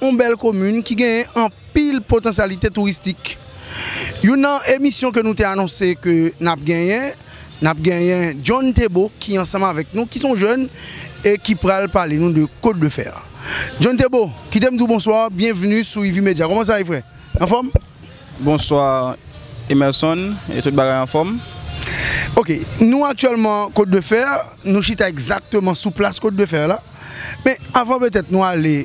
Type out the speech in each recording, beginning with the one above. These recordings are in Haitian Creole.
Yon bèl komin ki genyen anpil potansyalite touristik. Youn nan emisyon ke nou te anonse ke n ap genyen, n ap genyen John Thébo ki ansanm avèk nou, ki son jèn e ki pral pale nou de Côte de Fer. John Thébo, kite m di w bonswa, byenvni sou Ivi Media. Kòman sa ye frè? Anfòm? Bonswa Emerson, e tout bagay anfòm? Ok, nou aktyèlman Côte de Fer, nou chita egzakteman sou plas Côte de Fer la. Men avan petèt nou ale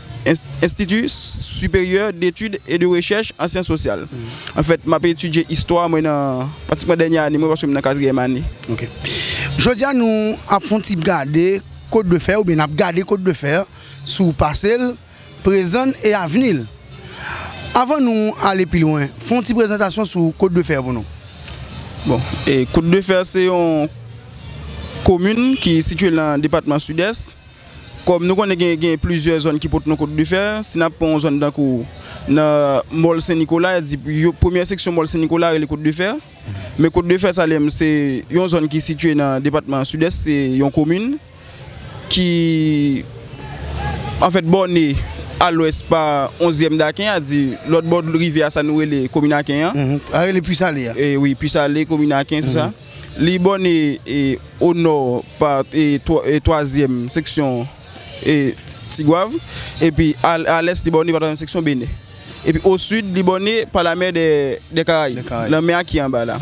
Enstiti Siperyè Detid e de Rechèch an Syans Sosyal. Anfèt, m ap etidye istwa mwen nan pratikman dènye ane mwen paske m nan katriyèm ane. Ok. Jodi a nou ap fè yon ti gade Kot de Fè oubyen n ap gade Kot de Fè sou pase l, prezan l e avni l. Avan nou ale pi lwen, fè yon ti prezantasyon sou Kot de Fè pou nou. Bon, Kot de Fè se yon komin ki sitye nan depatman Sidès. Kòm nou konnen gen gen plizyè zòn ki pot non kot difè, si n ap pran yon zòn tankou nan Mòl Sen Nikola, y ap di premyè seksyon Mòl Sen Nikola rele kot difè. Men kot difè sa li menm se yon zòn ki sitye nan depatman Sidès, se yon komin ki anfèt bòne a lwès pa onzyèm Daken a, di lòt bò rivyè a sa nou rele komin Aken an. Sa rele Pwisale a. Wi, Pwisale, komin Aken, tout sa. Li bòne o nò pa twazyèm seksyon Tigwav, epi a lès li bòne pa twazyèm seksyon Benè. Epi o sid li bòne pa lamè dè Karayib, lanmè a ki anba la.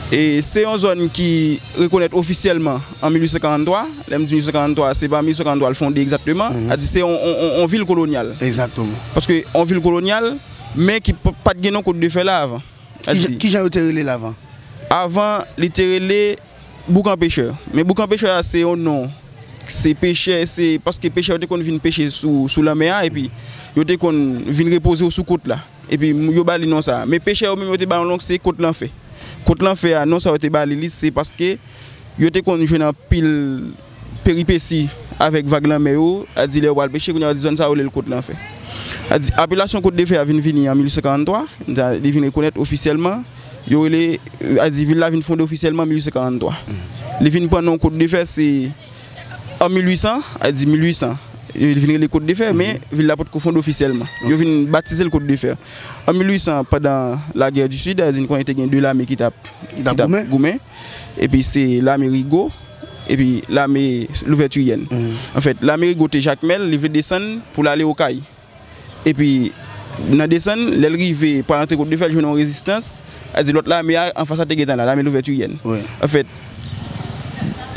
Se yon zòn ki rekonèt ofisyèlman an 1843, lè m di 1843 se pa 1843 l fonde egzakteman, sa di se yon vil kolonyal. Paske yon vil kolonyal men ki pa t gen non Kot de Fè la avan. Ki jan yo te rele l avan? Avan, li te rele Boukan Pechè. Men Boukan Pechè a se yon non. Se pechè, se paske pechè yo te konn vin peche sou lanmè a epi yo te konn vin repoze yo sou kot la. Epi yo ba li non sa a. Men pechè yo menm yo te ba yon non ki se Kot Lanfè. Kot Lanfè a, non sa yo te ba li li se paske yo te konn jwenn anpil. peripesi avèk vag lanmè yo, a di lè yo pral peche, kounye a yo di zòn sa yo rele l Kot Lanfè. A di apelasyon Kot Defè a vin vini an 1843, sa li vin rekonèt ofisyèlman, yo rele, a di vil la vin fonde ofisyèlman an 1843. Li vin pran non Kot Defè se an 1800, a di 1800, li vin rele Kot Defè men vil la pot ko fonde ofisyèlman. Yo vin batize l Kot Defè an 1800 pandan lagè di Sid, a di n konnen te gen 2 lame ki t ap goumen. epi se lame Rigo, epi lame Louvètiryèn. Anfèt, lame Rigo te Jakmèl, li vle desann pou l ale Okay. Epi, nan desann, lè l rive pral antre Kot Defè, l jwenn yon rezistans, sa vle di lòt lame a anfas la te gentan la, lame Louvètiryèn. Anfèt,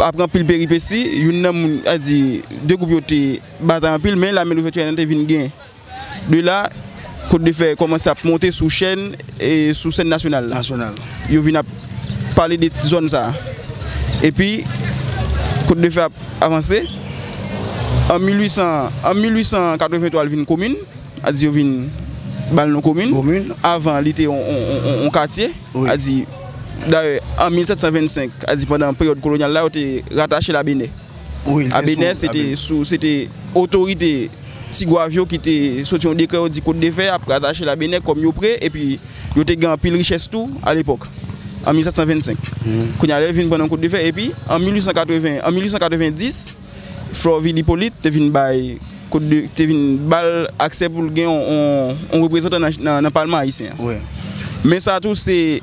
apre anpil peripesi, youn nan moun, sa vle di, de gwoup yo te batay anpil, men lame Louvètiryèn an te vin gen. De la, Cote de Fer kòmanse ap monte sou chèn, sou sèn nasyonal la. Yo vin ap pale de zòn sa a. Epi, Cote de Fer ap avanse. An 1883 li vin komin, a di yo vin ba l non komin. Avan, li te yon katye. Dayè, an 1725, a di pandan peryòd kolonyal la, yo te ratache l a Benè. Abenè se te sou se te otorite Tigwav yo ki te soti yon dekrè yo di kot de fè a ap ratache Labenè kòm yo pre epi yo te gen anpil richès tou alepòk an 1725 kounye a lè yo vin pran nan kot de fè epi an 1880 an 1890 Florvil Hyppolite te vin bay kot de te vin ba l aksè pou l gen yon reprezantan nan palman ayisyen an men sa tou se.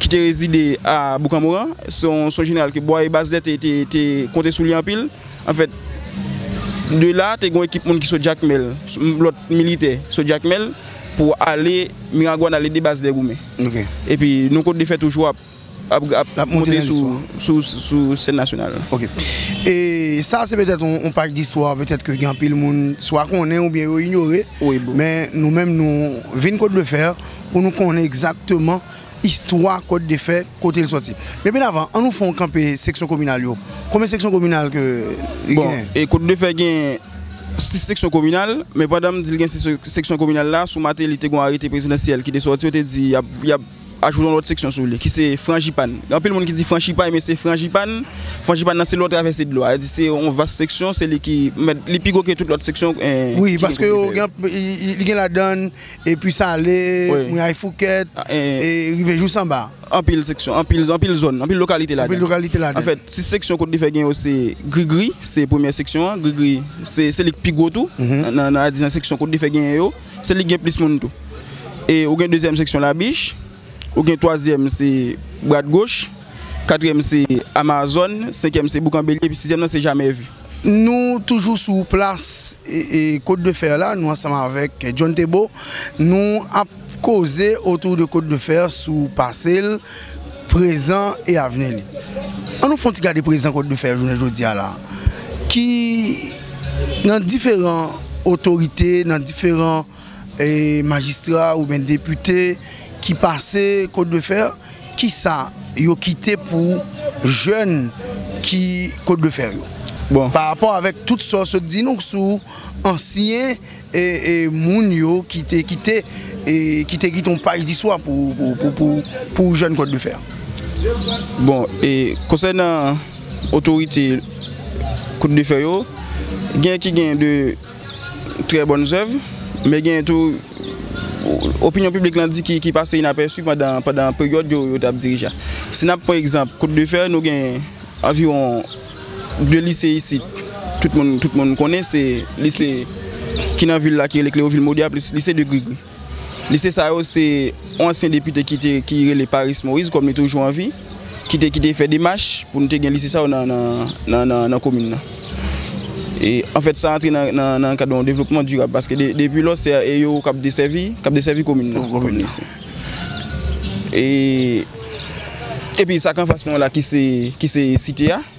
ki te rezide a Boukanmoran. Se yon jeneral ke Bwaye Baslè te konte sou li anpil. Anfèt, de la te gen yon ekip moun ki sot Jakmèl, lòt militè sot Jakmèl pou ale Miragwàn ale ede Baslè goumen. E pi nou kont de fè toujou ap monte sou sèn nasyonal la. Ok. E sa se petèt yon paj distwa petèt ke gen anpil moun swa konnen oubyen yo inyore. Wi bro. Men nou menm nou vin kont de fè. pou nou konnen egzakteman istwa kòd de fè kote l sòti. Men pi davan an nou fè yon kanpe seksyon kominal yo. Konbyen seksyon kominal ke li genyen? Bon, kòd de fè gen 6 seksyon kominal, men pandan m di l gen 6 seksyon kominal la, sou Mateli te gen yon arete prezidansyèl ki te sòti yo te di y ap ajoute yon lòt seksyon sou li ki se Franjipàn. Gen anpil moun ki di Franchipay men se Franjipàn. Franjipàn nan se lò travèse dlo a. Se yon vas seksyon, se li ki mèt, li pi gwo ke tout lòt seksyon ki gen kòd de fè yo. Wi, paske yo gen, li gen ladan l. E pi sale, mouyay foukèt, e rive jou sanba. Anpil seksyon, anpil zòn, anpil lokalite ladan. Anpil lokalite ladan. An fèt, sis seksyon kote li fè gen yo se Grigri, se premye seksyon an. Grigri, se li ki pi gwo tou. Nan a di nan seksyon kote li fè gen yo. Se li ki gen plis moun tou. E ou gen dezyèm seksyon Labich. Ou gen twazyèm se Brad Goch, katriyèm se Amazon, senkyèm se Boukan Belye epi sizyèm nan se Jamais Vu. Nou toujou sou plas Côte de Fer la, nou ansanm avèk John Thébo, nou ap koze autour de Côte de Fer sou pase l, prezan e avni li. An nou fon ti gade prezan Côte de Fer jounen jodi a la ki nan diferan otorite, nan diferan. Majistra oubyen depite ki pase Côte de fer, kisa yo kite pou jèn ki Côte de fer yo? Bon. Pa rapò avèk tout sa w sot di nou sou ansyen moun yo ki te kite ki te kite yon paj distwa pou jèn Côte de fer. Bon, e konsènan otorite Côte de fer yo, gen ki gen de. Trè bòn zèv, men genyen tou opinyon piblik lan di ki pase inapèsi pandan peryòd yo te ap dirije a. Si n ap pran egzanp Kot de Fè, nou gen anviwon de lise isit tout moun konnen, se lise ki nan vil la ki rele Klewovil Modè a plis lise de Grigri. Lise sa yo se yon ansyen depite ki rele Paris Moïse kòm li toujou an vi ki te ki te fè demach pou nou te gen lise sa yo nan komin nan. E an fèt sa antre nan kad yon devlopman dirab paske depi lò se e yo k ap desèvi k ap desèvi komin nan. E epi sa k anfas mwen la ki se site a.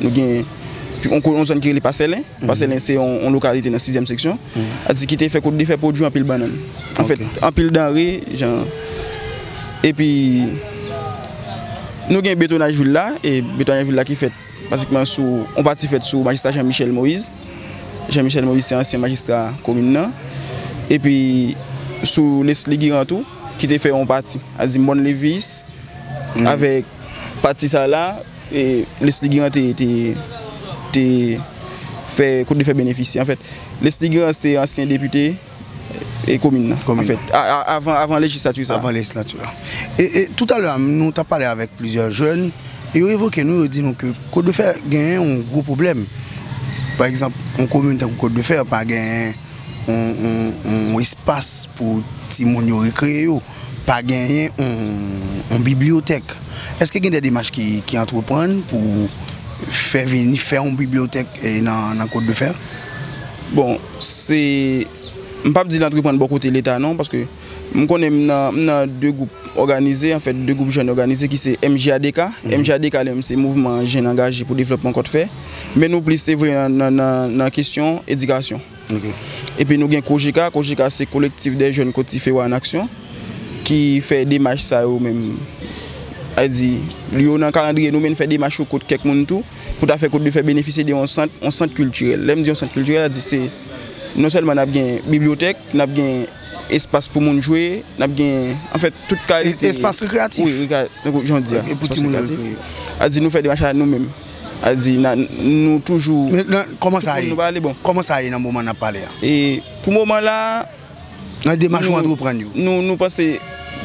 Nou gen yon zòn ki rele Pasèlen. Pasèlen se yon lokalite nan sizyèm seksyon. Ati ki te fè kote li fè pwodui anpil bannann. Anfèt, anpil danre jan. Epi, nou gen betonaj vil la. E betonaj vil la ki fèt pratikman sou yon pati fèt sou majistra Jean Michel Moïse. Jean Michel Moïse se ansyen majistra komin nan. Epi, sou Lesly Girant tou ki te fè yon pati. Ati Mòn Levis avèk pati sa la. Lesly Grand te te fè kote li fè benefisye anfèt Lesly Grand se ansyen depite komin nan anfèt avan lejislati sa. Avan lejislati a. E toutalè a nou t ap pale avèk plizyè jèn e yo evoke nou yo di nou ke Kotdefè genyen yon gwo pwoblèm pa egzanp yon komin tankou Kotdefè pa genyen yon espas pou timoun yo rekreye yo. Pa genyen yon bibliyotèk. Èske gen de demach ki antreprann pou fè vini, fè yon bibliyotèk nan Kwadefè? Bon, se, m pap di l antreprann bò kote leta non, paske m konnen m nan de gwoup òganize, anfèt de gwoup jèn òganize ki se MJADK. MJADK li menm se Mouvman Jèn Angaje pou Devlòpman Kwadefè. Men nou plis se vre nan kesyon edikasyon. Epi nou gen Kojika, Kojika se Kolektif dè Jèn Kot Tifeo an Aksyon ki fè demach sa yo menm. A di, yo nan kalandriye nou men fè demach yo kot kèk moun tou pou ta fè kot de fè benefisye de yon sant, yon sant kiltirèl. Lè m di yon sant kiltirèl, a di se non sèlman n ap gen bibliyotèk, n ap gen espas pou moun jwe, n ap gen anfèt tout kalite. Espas rekreyatif. Wi, tankou jan w di a. Pou timoun yo rekreye. A di nou fè demach la nou menm. A di na nou toujou. Men nan kòman sa ye? Kòman sa ye nan moman nap pale a? E pou moman la. Nan demach ou antreprann yo. Nou panse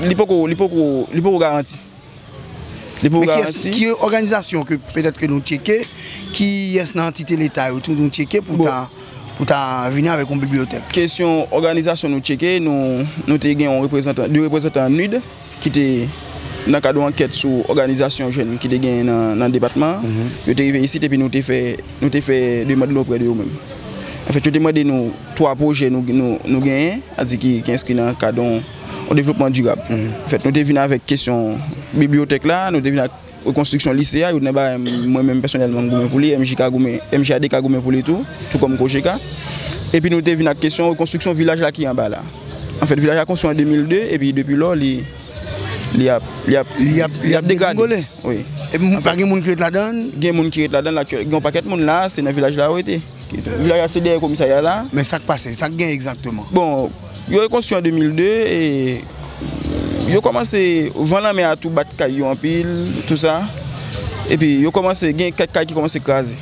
li poko li poko li poko garanti. Li poko garanti. Men ki òganizasyon ke petèt ke nou tcheke ki yès nan antite leta yo tou nou tcheke pou ta pou ta vini avèk yon bibliyotèk? Kesyon òganizasyon nou tcheke nou nou te gen yon reprezantan de reprezantan an nid. ki te nan kad yon ankèt sou òganizasyon jèn ki te genyen nan depatman an, yo te rive isit epi nou te fè demand nou oprè de yo menm. Anfèt, yo te mande nou twa pwojè nou genyen, sa di ki enskri nan kad yon devlopman dirab. Anfèt, nou te vin avèk kesyon bibliyotèk la, nou te vin ak. Rekonstriksyon lise a, youn nan bagay mwen menm pèsonèlman m goumen pou li, MJK goumen, MJAD ka goumen pou li tou, tou kòm COJK. Epi nou te vin ak kesyon rekonstriksyon vilaj la ki anba la. Anfèt, vilaj la konstwi an 2002, epi depi lò li, li ap, li ap, li ap degrade. Epi pa gen moun ki ret ladan l? Gen moun ki ret ladan l aktyèl, gen yon pakèt moun la a, se nan vilaj la yo rete. Vilaj a se dèyè komisarya a la. Men sa k pase? Sa k gen egzakteman? Bon, yo rekonstwi an 2002 e yo kòmanse, van lanmè a tou bat kay yo anpil, tou sa. E pi yo kòmanse, gen kèk kay ki kòmanse kraze.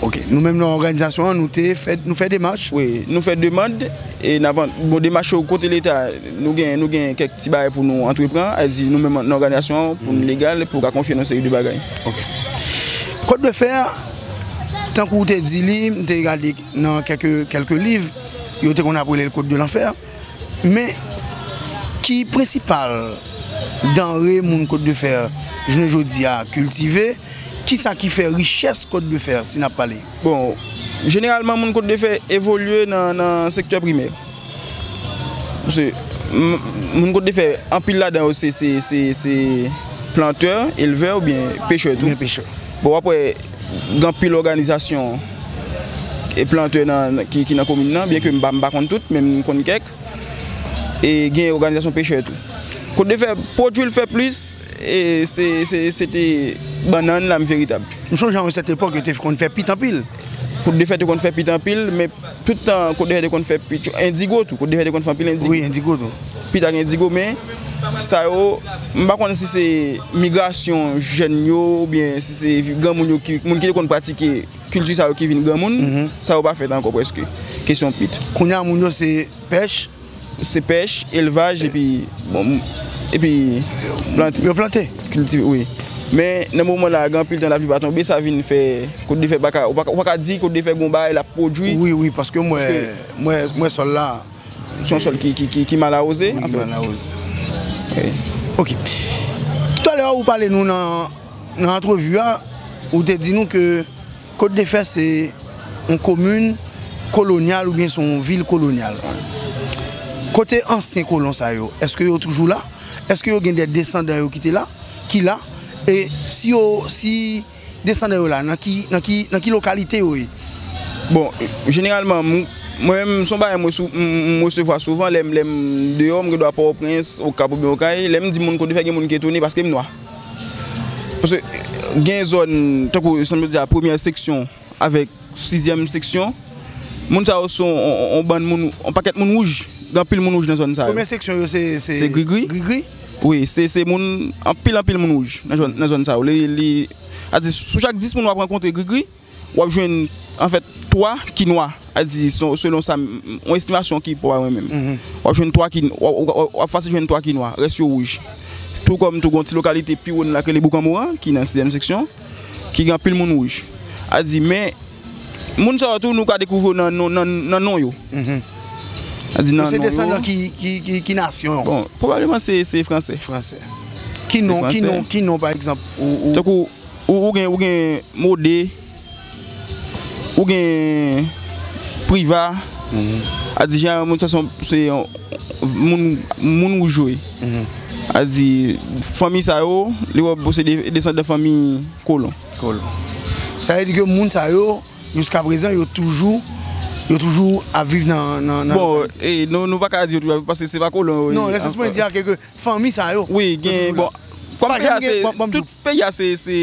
Ok. Nou menm nan òganizasyon an, nou te fè, nou fè demach? Wi. Nou fè demand e n ap, bon demach yo kote leta, nou gen, nou gen kèk ti bagay pou nou antrepran, a di nou menm nan òganizasyon an pou nou legal, pou yo ka konfye nou seri de bagay. Ok. Kòt de fè a. Tankou w te di li, m te gade nan kèlke liv, yo te konn ap rele l Côte de l'Enfer. Men, ki prensipal danre moun Côte de Fer jounen jodi a kiltive? Ki sa ki fè richès Côte de Fer, si n ap pale? Bon, jeneralman moun Côte de Fer evolye nan sektè primè. Pase moun kote fè anpil ladan yo se plantè, elvè ou byen pechè tou. Byen pechè. Bon wap wè gen anpil òganizasyon e plantè nan ki nan komin nan byen ke m pa konn tout men m konn kèk. E gen òganizasyon pechè tou. Kote fè pwodui l fè plis e se te bannann la m veritab. M sonje a yon sèt epòk yo te konn fè pit anpil. Kote fè te konn fè pit anpil men. Tout tan Cote de Fer te konn fè pi tchou, endigo tou, Cote de Fer te konn fè anpil endigo. Wi, endigo tou. Pi ta gen endigo men, sa yo, m pa konn si se migrasyon jèn yo oubyen si se granmoun yo ki, moun ki te konn pratike kilti sa yo ki vin granmoun, sa yo pa fèt ankò prèske, kesyon pit. Kounya moun yo se pèch. Se pèch, elvaj epi epi plante. Yo plante? Kiltive wi. Men nan moman la gen anpil tan lapli pa tonbe sa vin fè kot de fè pa ka, ou pa ka di kot de fè gon bagay lap pwodwi. Wi wi paske m wè sòl la. Se yon sòl ki mal awoze. Wi ki mal awoze. Ok. Toutale ou pale nou nan antrevi a, ou te di nou ke. Kotdefè se yon komin kolonyal oubyen se yon vil kolonyal? Kote ansyen kolon sa yo? Eske yo toujou la? Eske yo gen de desandan yo ki te la, ki la? E si yo, si desandan yo la, nan ki, nan ki, nan ki lokalite yo ye? Bon, jeneralman, mwen menm, se yon bagay m resevwa souvan lè m deyò, m gen dwa Pòtoprens, Okap oubyen Okay, lè m di moun Kotdefè gen moun ki etone paske m nwa. Paske gen zòn, tankou sa m te di a, premyè seksyon avèk sizyèm seksyon, moun sa yo se yon bann moun, yon pakèt moun wouj. Gen anpil moun wouj nan zòn sa yo. Premye seksyon yo se grigri? Grigri? Wi, se anpil anpil moun wouj nan zòn sa yo. Sou chak dis moun w ap rankontre grigri. W ap jwenn anfèt 3 ki nwa, a di selon sa m, yon estimasyon ki pa mwen menm. W ap jwenn 3 ki, w ap fasil jwenn 3 ki nwa, rès yo wouj. Tou kòm tou gen yon ti lokalite pi wo nan la ki rele Boukanmouran ki nan sizyèm seksyon, ki gen anpil moun wouj. A di men, moun sa yo tou nou ka dekouvri yo nan non, nan non yo. A di nan non yo. Yo se desandan ki, ki nasyon yo? Bon, pwobableman se franse. Franse. Ki non, ki non, ki non pa egzanp ou. Tankou. Ou gen ou gen mode ou gen priva a di jeneral moun sa son se yon moun moun ou jwe a di fanmi sa yo li wè bon se desan de fanmi kolon kolon sa vle di ke moun sa yo jiska prezan yo toujou yo toujou ap viv nan nan bon e nou nou pa ka di yo toujou ap viv paske se pa kolon yo ye non nan sans mwen di a ke ke fanmi sa yo. Wi gen bon kom peyi a se tout peyi a se se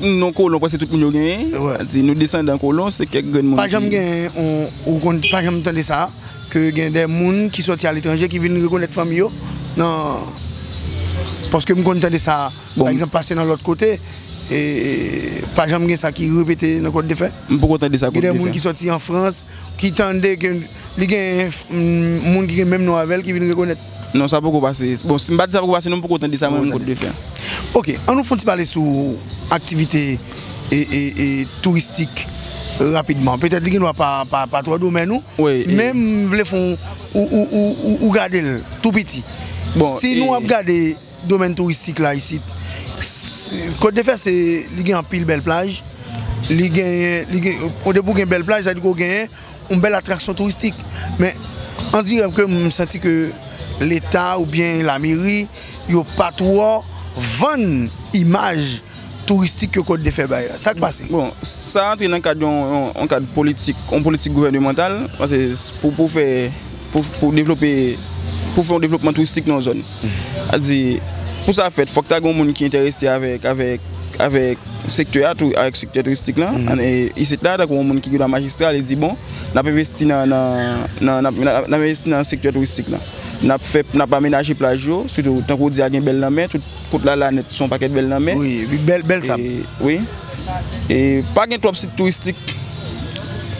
non kolon prèske tout moun yo genyen di nou desandan kolon se kèk grenn moun. Pa janm gen yon ou konn pa janm tande sa ke gen de moun ki soti aletranje ki vin rekonèt fanmi yo nan paske m konn tande sa pa egzanp pase nan lòt kote e pa janm gen sa ki repete nan kont de fè m poko tande sa gen de moun ki soti an frans ki tande ke li gen moun ki gen menm non avè l ki vin rekonèt. Non sa poko pase, bon si m pa di sa poko pase non m poko tande sa mwen menm kot defen. Ok, an nou fon ti pale sou aktivite touristik rapidman, petèt li gen dwa pa twò domèn ou, men m vle fon ou gade l tou piti. Si nou ap gade domèn touristik la isit, kot defen se li gen anpil bèl plaj, li gen, depi ou gen bèl plaj sa vle di ke ou gen Yon bèl atraksyon touristik, men on dirè ke m santi ke leta oubyen lameri yo pa twò vann imaj touristik ke Kòt Defè bay la. Sa k pase? Bon, sa antre nan kad yon kad politik, yon politik gouvènemantal, pase pou fè, pou devlope, pou fè yon devlopman touristik nan yon zòn. a di pou sa fèt fòk ta gen yon moun ki enterese avèk avèk avèk sektè a tou avèk sektè touristik lan an e isit la tankou yon moun ki gen dwa majistra li di bon n ap envesti nan nan n ap envesti nan sektè touristik lan n ap fè n ap amenaje plaj yo sitou tankou w di a gen bèl lanmè tout kot lalane son pakèt bèl lanmè wi wi bèl bèl sab wi e pa gen twòp sit touristik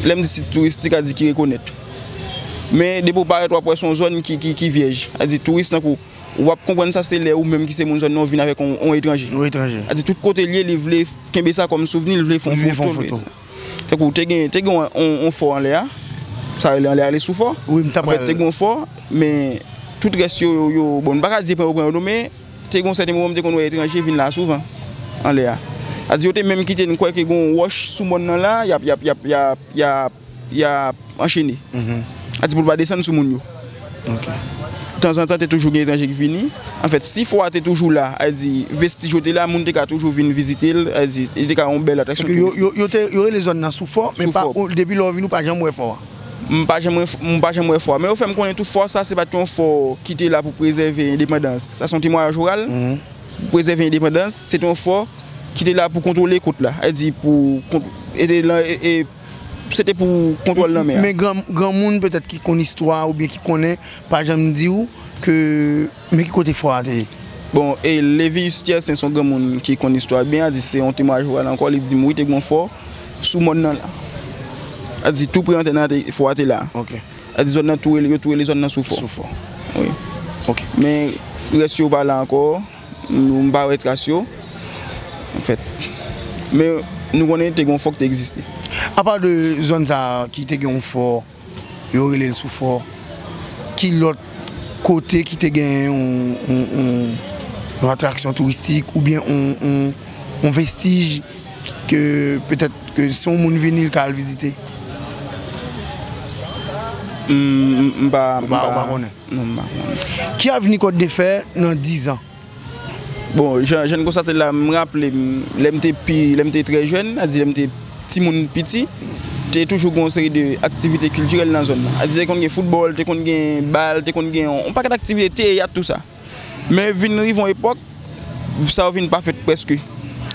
lè m di sit touristik a di ki rekonèt. Men depi ou parèt wap wè son zòn ki vyèj. A di touris tankou ou pap konprann sa se lè ou menm ki se moun zòn nan ou vin avèk on etranje. On etranje. A di tout kote li ye li vle kenbe sa kòm souvni, li vle fon foto. Li vle fon foto. Tankou te gen te gen on fò anlè a, sa rele anlè a rele sou fò. Wi m tap pral. Anfèt te gen on fò men tout rès yo yo bon m paka di pran yo pran yo non men te gen on sèten moman m te konn wè etranje vin la souvan anlè a. A di yo te menm kite n kwè ke gen on wòch sou mòn nan la yap yap yap yap yap. Y ap anchene. A di pou l pa desann sou moun yo. Tanzantan te toujou gen etranje ki vini. Anfèt, si fò a te toujou la, a di vestij yo te la, moun te ka toujou vin vizite l. A di, li te ka yon bèl atraksyon touristik. Yo rele zòn nan sou fò, men depi lè ou vini ou pa janm wè fò a. M pa janm wè fò a. Men yo fè m konnen tou fò sa se pa t yon fò ki te la pou prezève endepandans. Sa se yon temwayaj oral. Pou prezève endepandans, se te yon fò ki te la pou kontwole kot la. A di pou. se te pou kontwòl lanmè a. Men granmoun petèt ki konn istwa a oubyen ki konnen pa janm di ou ke men ki kote fò a te ye. Bon, Lévius Tiercin se yon granmoun ki konn istwa a byen, a di se yon temwayaj pou pale ankò, li di m wi te gen yon fò sou mòn nan la. A di tou pre antèn nan te fò a te la. A di zòn nan tou rele yo tou rele zòn nan Soufò. Soufò. Wi. Ok. Men rès yo pa la ankò. Nou pa wè tras yo, an fèt. Men nou konnen te gen yon fò ki te egziste. Apa de zòn sa a ki te gen yon fò, yo rele l sou fò, ki lòt kote ki te gen yon atraksyon touristik oubyen yon vestij ke petèt ke si yon moun vini l ka al vizite? M pa konnen. Ki avni Kòt de fè nan 10 ans? Bon jan jan konstate la m raple m lè m te pi lè m te trè jèn sa di lè m te timoun piti te toujou gen yon seri de aktivite kiltirèl nan zòn nan te konn gen foutbòl te konn gen bal te konn gen yon pakèt aktivite teyat tou sa men vin rive yon epòk sa yo vin pa fèt prèske.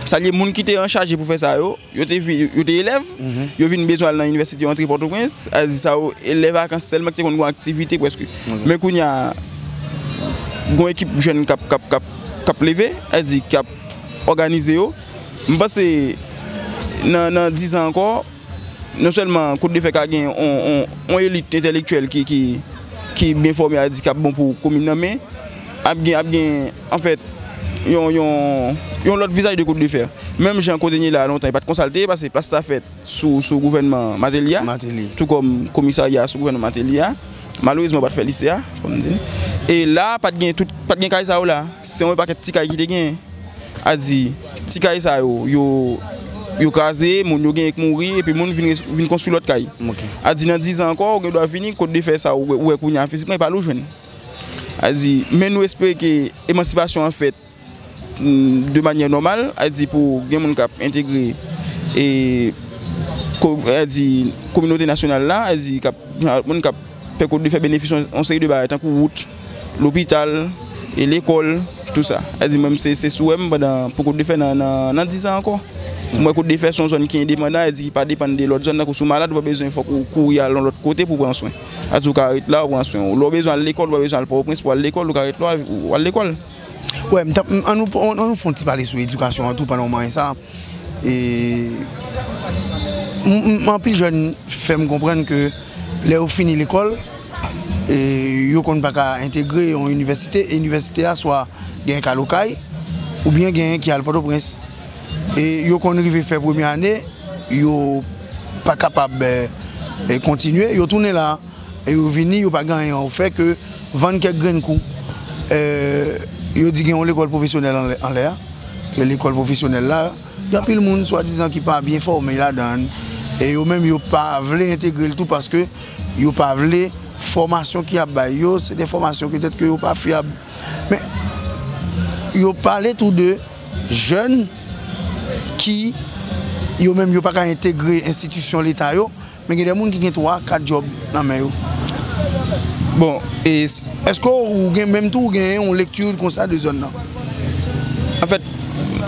Sa vle di moun ki te anchaje pou fè sa yo, yo te elèv, yo vin bezwen al nan inivèsite, yo antre Pòtoprens, sa vle di sa yo elèv vakans sèlman ki te konn gen yon aktivite prèske. Men kounye a, gen yon ekip jèn k ap leve, sa vle di ki ap òganize yo. M panse nan dizan ankò. Non sèlman kout de fè ka gen yon elit entèlektyèl ki byen fòme a di k ap bon pou komin nan men ap gen anfèt yon lòt vizaj de kout de fè. Menm jan kote nye la a lontan e pa t konsa l te ye paske plas sa fèt sou gouvènman Mateli a tou kòm komisarya a sou gouvènman Mateli a malerezman yo pa t fè lise a e la a pa t gen kay sa yo la se yon pakèt ti kay ki te genyen. a di ti kay sa yo yo kraze, moun yo genyen k mouri epi moun vin konstwi lòt kay. A di nan dizan ankò ou gen dwa vini kòd de fè sa ou wè kounye a fizikman e pa ale ou jwenn. A di men nou espere ke emansipasyon an fèt de manyè nòmal, a di pou gen moun k ap entegre e a di kominote nasyonal la, a di moun k ap fè kòd de fè benefis yon seri de bagay tankou wout. Lopital, e lekòl, tout sa. Sa vle di mwen se sou wè m pandan pou Kot Defè nan dizan ankò. M wè Kot Defè se yon zòn ki endepandan, sa vle di ki pa depann de lòt zòn. Tankou si w malad ou pa bezwen fòk ou kouri al yon lòt kote pou w pran swen. Sa vle di ou ka ret la ou pran swen ou. Lè w bezwen al lekòl ou pa bezwen al Pòtoprens pou w al lekòl, ou ka ret la ou al lekòl. Wè, an nou fè yon ti pale sou edikasyon an tou pandan w manyen sa. E anpil jèn fè m konprann ke lè yo fini lekòl, yo konn pa ka entegre yon inivèsite, e inivèsite a swa genyen k al Okay oubyen genyen ki al Pòtoprens. E yo konn rive fè premye ane, yo pa kapab kontinye, yo tounen la. e yo vini yo pa gen anyen yo fè ke vann kèk grenn kou. Yo di gen yon lekòl pwofesyonèl anlè a, ke lekòl pwofesyonèl la gen anpil moun swadizan ki pa byen fòme ladan e yo menm yo pa vle entegre l tou paske yo pa vle fòmasyon ki ap bay yo se de fòmasyon petèt ke yo pa fyab. Men, yo pale tou de jèn ki yo menm yo pa ka entegre enstitisyon leta yo. Men gen de moun ki gen 3, 4 djòb nan men yo. Bon, e èske ou gen menm tou ou gen yon lekti konsa de zòn nan? Anfèt,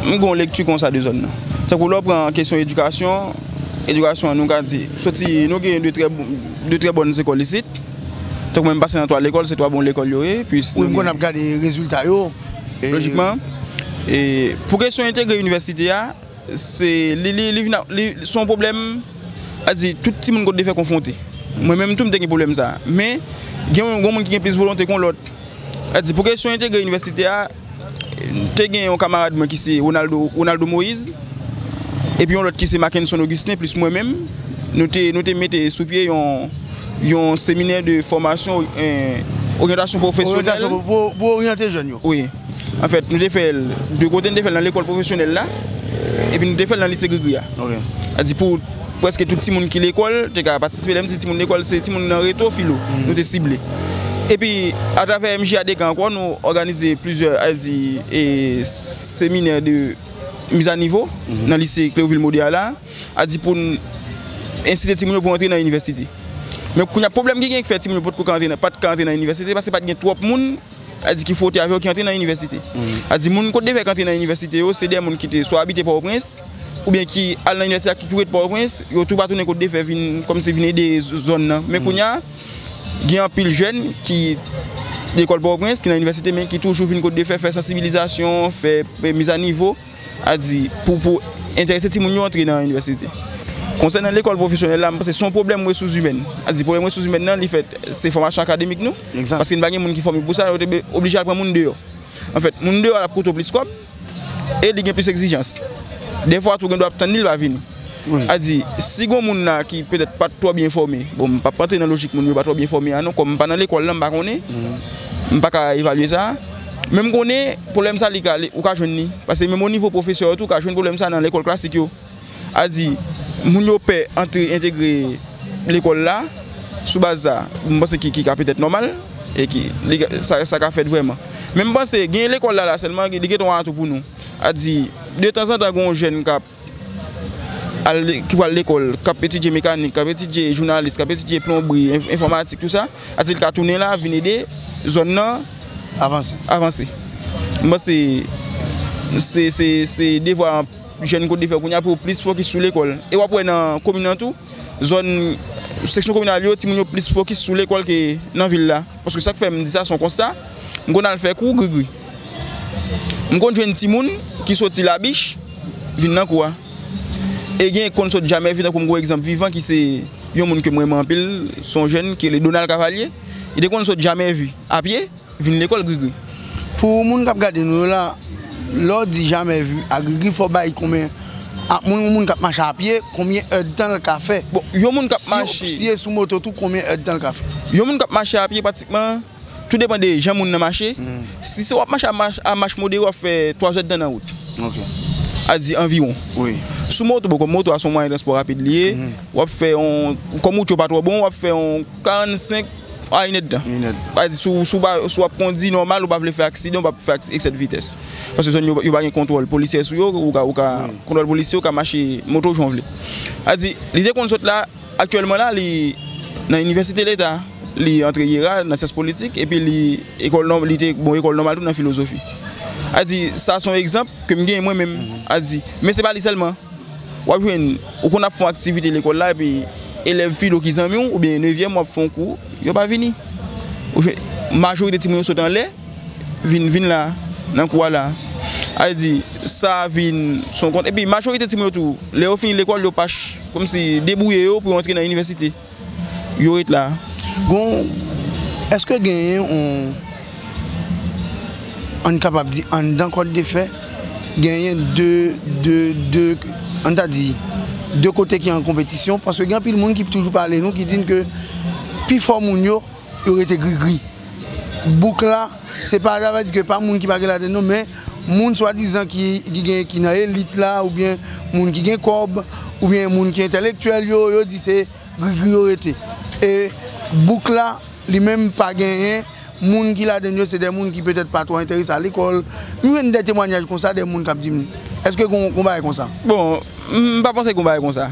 m gen yon lekti konsa de zòn nan. Tankou lè w pran kesyon edikasyon, edikasyon nou ka di, soti nou gen de trè bòn lekòl isit. Tankou mwen m pase nan 3 lekòl, se 3 bon lekòl yo ye. Wi, m konn ap gade rezilta yo. Lojikman, pou kesyon entegre inivèsite a. Se yon pwoblèm, sa di tout timoun kote li fè konfwonte. Mwen menm tou m te gen pwoblèm sa. Men, gen yon moun ki gen plis volonte kon lòt. Sa di pou kesyon entegre inivèsite a, te gen yon kamarad mwen ki se Ronaldo Moise, epi yon lòt ki se Mackenson Augustin plis mwen menm, nou te mete sou pye yon seminè de fòmasyon, oryantasyon pwofesyonèl. Pou oryante jèn yo. Wi. An fèt, nou te fè l de kote, nou te fè l nan lekòl pwofesyonèl la, epi nou te fè l nan lise Grigri a. A di pou prèske tout timoun ki lekòl te ka patisipe. Lè m di timoun lekòl, se timoun nan reto filo nou te sible. Epi, atravè MJA Deka ankò, nou òganize plizyè, al di, seminè de mizanivo nan lise Cleovil Maude a la, a di pou n ensite timoun yo pou antre nan inivèsite. Men kounye a, pwoblèm ki genyen ki fè timoun yo potko ka antre nan, pa t ka antre nan inivèsite, se paske pa t gen twòp moun a di ki fwote avè yo ki antre nan inivèsite. A di moun Kotdevè ki antre nan inivèsite yo, se de moun ki te swa abite Pòtoprens, oubyen ki al nan inivèsite a ki tou ret Pòtoprens, yo tou pa tounen Kotdevè vin kòmsi vin ede zòn nan. Men kounye a, gen anpil jèn ki lekòl Pòtoprens, ki nan inivèsite men ki toujou vin Kotdevè fè sansibilizasyon, fè mizanivo. a di pou pou enterese timoun yo antre nan inivèsite. Konsènan lekòl pwofesyonèl la, m panse se yon pwoblèm resous imèn. A di pwoblèm resous imèn nan li fèt se fòmasyon akademik nou, paske n pa gen moun ki fòme pou sa, yo te oblije al pran moun deyò. Anfèt, moun deyò a l ap koute w plis kòb e li gen plis egzijans. Dèfwa tou gen dwa ap tann li l pa vini. A di, si gon moun la ki petèt pa t twò byen fòme, bon m pap rantre nan lojik moun yo pa twò byen fòme a non, kòm m pa nan lekòl lan m pa konnen, m pa ka evalye sa, men m konnen pwoblèm sa li ka ale, ou ka jwenn li, pase menm o nivo pwofesè yo tou ou ka jwenn pwoblèm sa nan lekòl klasik yo. A di, moun yo pè antre entegre lekòl la sou baz sa, m panse ki ka petèt nòmal e ki sa ka fèt vrèman. Men m panse gen lekòl la la sèlman li gen ton atou pou nou. A di, de tanzantan gen yon jèn k ap. ki pral lekòl, k ap etidye mekanik, k ap etidye jounalis, k ap etidye plonbri, enfòmatik, tout sa, atis ka tounen la vin ede zòn nan avanse. Mwen panse se devwa jèn kote fè kounya pou yo plis fokis sou lekòl. E w ap wè nan komin nan tou. Zòn seksyon kominal yo, timoun yo plis fokis sou lekòl ke nan vil la. Paske sa k fè m di sa, se yon konsta, m konn al fè kou grigri. M konn jwenn timoun ki soti Labich vin nan kou a. E gen ki konn sot Jamèvè, tankou m gen yon egzanp vivan ki se yon moun ke m renmen anpil, se yon jèn ki rele Donald Cavalier. Li te konn sot Jamèvè a pye. Vin lekòl grigri. Pou moun kap gade nou yo la lèw di jamè vu a grigri fòw bay konbyen a moun yon moun kap mache a pye konbyen èd tanl ka fè bon yon moun kap mache si e sou moto tou konbyen èd tanl ka fè. Yon moun kap mache a pye pratikman tou depan de jan moun nan mache si se wap mache a mach modere wap fè 3 èd tan nan wout a di anviwon sou moto bon kòm moto a son mwayen transpò rapid liye wap fè yon kòm wout yo pa twò bon wap fè yon 45. A inèd tan. Si w ap kondi nòmal, ou pa vle fè aksidan, ou pa fè eksè de vitès. Paske zòn yo pa gen kontwòl polisyè sou yo, ou ka, kontwòl polisyè ou ka mache moto w jan w vle. A di, li te konn sot la, aktyèlman la li nan inivèsite leta, li antre IERA nan syans politik epi li ekòl nò, li te bon ekòl nòmal tou nan filozofi. A di, sa son egzanp ke m gen mwen menm. A di, men se pa li sèlman. W ap jwenn, ou konn ap fè yon aktivite lekòl la epi elèv filo ki zanmi w oubyen nevyèm w ap fè yon kou, yo pa vini. Ou jwenn majorite timoun yo sot anlè vin vin la, nan kou a la. A vle di, sa vin son kont. Epi majorite timoun yo tou, lè yo fini lekòl yo pa, kòmsi debouye yo pou yo antre nan inivèsite. Yo ret la. Gon, èske genyen yon, ann kapab di anndan kòdefè, genyen de, de, de, ann ta di, de kote ki an konpetisyon? Paske gen anpil moun ki toujou pale nou, ki di n ke pi fò moun yo, yo rete grigri. Bouk la. Se pa sa vle di ke pa moun ki pa gen laten non men moun swadizan ki gen ki nan elit la oubyen moun ki gen kòb oubyen moun ki entèlektyèl yo yo di se grigri yo rete e bouk la li menm pa genyen moun ki ladan l yo se de moun ki petèt pa twò enterese a lekòl m jwenn de temwanyaj konsa de moun k ap di m èske gon bagay konsa. Bon m pa panse gon bagay konsa.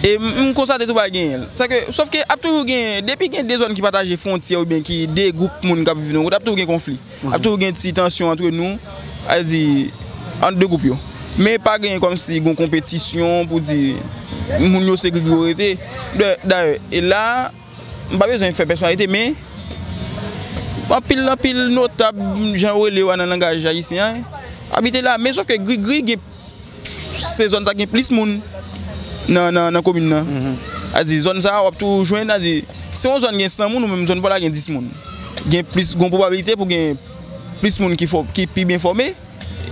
E m konstate tou pa genyen l. Sa ke, sof ke ap toujou gen, depi gen 2 zòn ki pataje fwontyè oubyen ki 2 gwoup moun k ap viv nan yon kote ap toujou gen konfli. Ap toujou gen ti tansyon antre nou, sa vle di ant 2 gwoup yo. Men pa genyen kòmsi gon konpetisyon pou di moun yo se grigri yo rete. Dayè, e la a, m pa bezwen fè pèsonalite men, anpil anpil notab, jan yo rele yo a nan langaj ayisyen an, abite la. Men sof ke grigri gen. Se zòn sa gen plis moun nan komin nan. A di zòn sa wap tou jwenn a di se yon zòn gen 100 moun ou menm zòn pa w la gen 10 moun. Gen plis gon pwobabilite pou gen plis moun ki pi byen fòme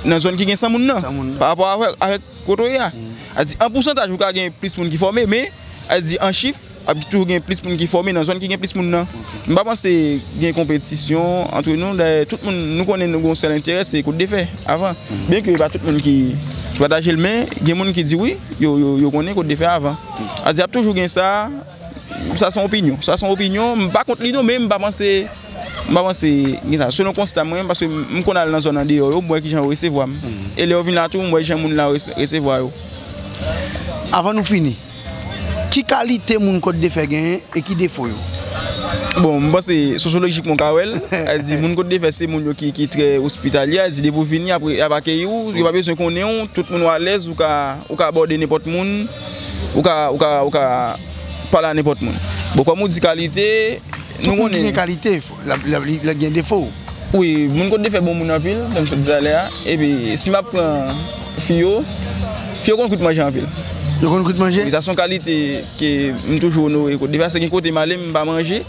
nan zòn ki gen 100 moun nan pa rapò avèk kote w ye a. A di an pousantaj ou ka gen plis moun ki fòme men a di an chif. Ap toujou gen plis moun ki fòme nan zòn ki gen plis moun nan. M pa panse gen konpetisyon antre nou. Dayè, tout moun nou konnen nou gen yon sèl enterè, se kout de fè avan. Byen ke e pa tout moun ki pataje l men, gen moun ki di wi, yo konnen kout de fè avan. A di ap toujou gen sa, sa se yon opinyon. Sa se yon opinyon, m pa kont li non men m pa panse, m pa panse gen sa. Selon konsta mwen, paske m konn al nan zòn andeyò yo, m wè ki jan yo resevwa m. E lè yo vin la tou, m wè jan moun la resevwa yo. Avan nou fini. Ki kalite moun Kòt de Fè genyen e ki defo yo? Bon, m panse sosyolojikman w ka wè l. Al di moun Kòt de Fè se moun yo ki trè ospitalye. Al di depi w vini apre y ap akeyi w. Yo pa bezwen konnen w. Tout moun yo alèz. Ou ka abòde nenpòt moun. Ou ka pale a nenpòt moun. Bon, kòm ou di kalite, nou konnen. Tout moun ki gen kalite. Lap gen defo ou. Wi moun konn defè bon moun anpil janm sot di talè a epi si map pran fi yo fi yo konn kwit manje anpil. Yo konn kwit manje? Wi sa son kalite ke m toujou onore kot defè se gen kote male m pa manje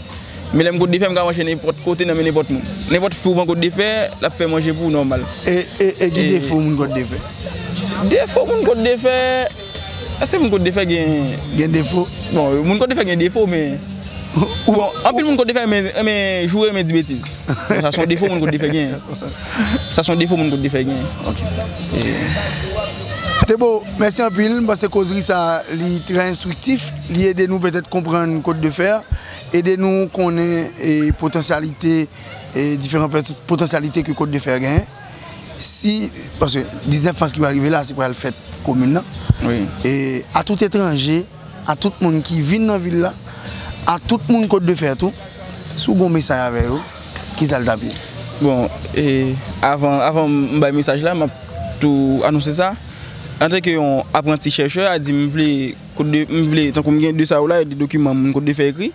men lèm kot defè m ka manje nenpòt kote nan men nenpòt moun nenpòt fi ou pran kot defè lap fè manje pou ou nòmal. E ki defo moun kot defè? Defo moun kot defè. Eske moun kot defè gen defo? Bon moun kot defè gen defo men Anpil moun kot defè renmen joure renmen di betiz Sa son defo moun kot defè genyen Sa son defo moun kot defè genyen Ok Tebo mèsi anpil m panse kozri sa li trè enstriktif li ede nou petèt konprann kot defè ede nou konnen potansyalite diferan potansyalite ke kot defè genyen. si paske 19 mas ki pral rive la se pral fèt komin nan e a tout etranje a tout moun ki vin nan vil la a tout moun kot de fè tou si w gon mesay avè yo ki sa l tap ye? Bon e avan avan m bay mesaj la map tou anonse sa antanke yon apranti chèchè a di m vle kot de m vle tankou m gen de sa yo la de dokiman moun kot de fè ekri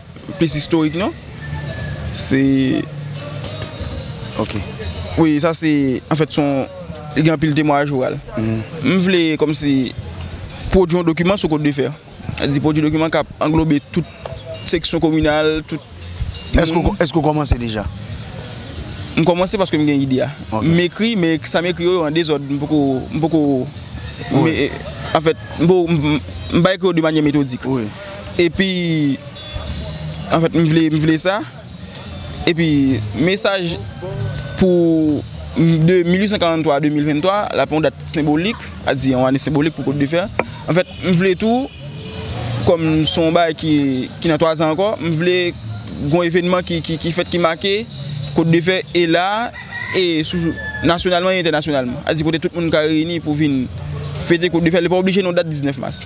Plis istorik non se ok wi sa se anfèt son li gen anpil temwayaj oral m vle kòmsi pwodwi yon dokiman sou Côte de Fer sa di pwodwi dokiman kap anglobe tout seksyon kominal tout Èske ou kòmanse deja? M kòmanse paske m gen ide a m ekri men sa m ekri yo yo an dezòd m poko m poko anfèt m pa ekri yo de manyè metodik. epi an fèt m vle m vle sa epi mesaj pou 1843 a 2023 l ap yon dat senbolik a di yon ane senbolik pou Côte de Fer an fèt m vle tou kòm s on bagay ki nan 3 zan ankò m vle gen yon evènman ki fèt ki make Côte de Fer e la e sou nasyonalman e entènasyonalman a di kote tout moun ka reyini pou vin fete Côte de Fer li pa oblije nan yon dat 19 mas.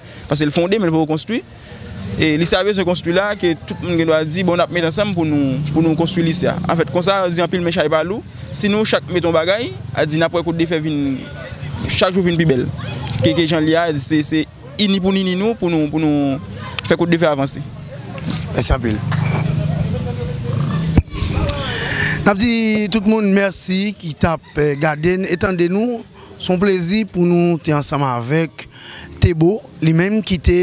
Paske l fonde men l poko konstwi. E lise a bezwen konstwi la ke tout moun gen dwa di bon n ap met ansanm pou nou konstwi lise a. Anfèt konsa yo di anpil men chay pa lou. Si nou chak mete yon bagay, a di n ap wè kout defe vin chak jou vin pi bèl ke jan l ye a. A di se se ini pou n ini nou pou nou fè kout defe avanse. Mèsi anpil. N ap di tout moun mèsi ki t ap gade n e tande nou. Se yon plezi pou nou te ansanm avèk Thébo, li menm ki te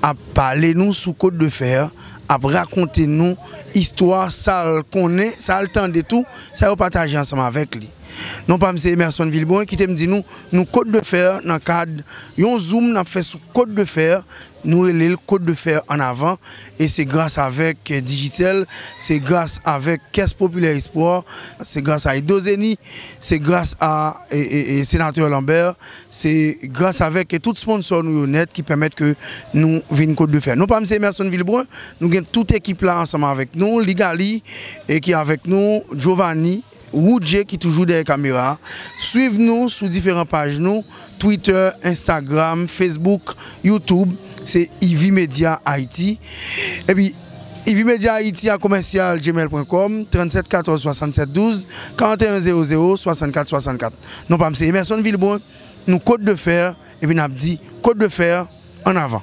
ap pale nou sou Côte de Fer, ap rakonte nou istwa sa l konnen, sa l tande tou, sa yo pataje ansanm avèk li. Non pa m se Emerson Vilbrun, kite m di nou, nou Côte de Fer nan kad yon zoom n ap fè sou Côte de Fer, Nou rele l Côte de fer en avant e se gras avèk Digicel, se gras avèk Caisse Populaire Espoir, se gras a Edozeni, se gras a Senatè Lambert, se gras avèk tout sponsò nou yo nèt ki pèmèt ke nou vin Côte de fer. Non pa m se Emerson Vilbrun, nou gen tout ekip la ansanm avèk nou, Ligaly ki avèk nou, Jovanie. Roodjee ki toujou dèyè kamera a. Swiv nou sou diferan paj nou, Twitter, Instagram, Facebook, YouTube, se Yvi Media Haiti. Epi Yvi Media Haiti a commercial gmail pwen kòm, 37 14 67 12 41 00 64 64. Non pa m se Emerson Vilbrun, nou Côte de Fer epi n ap di Côte de Fer an avan!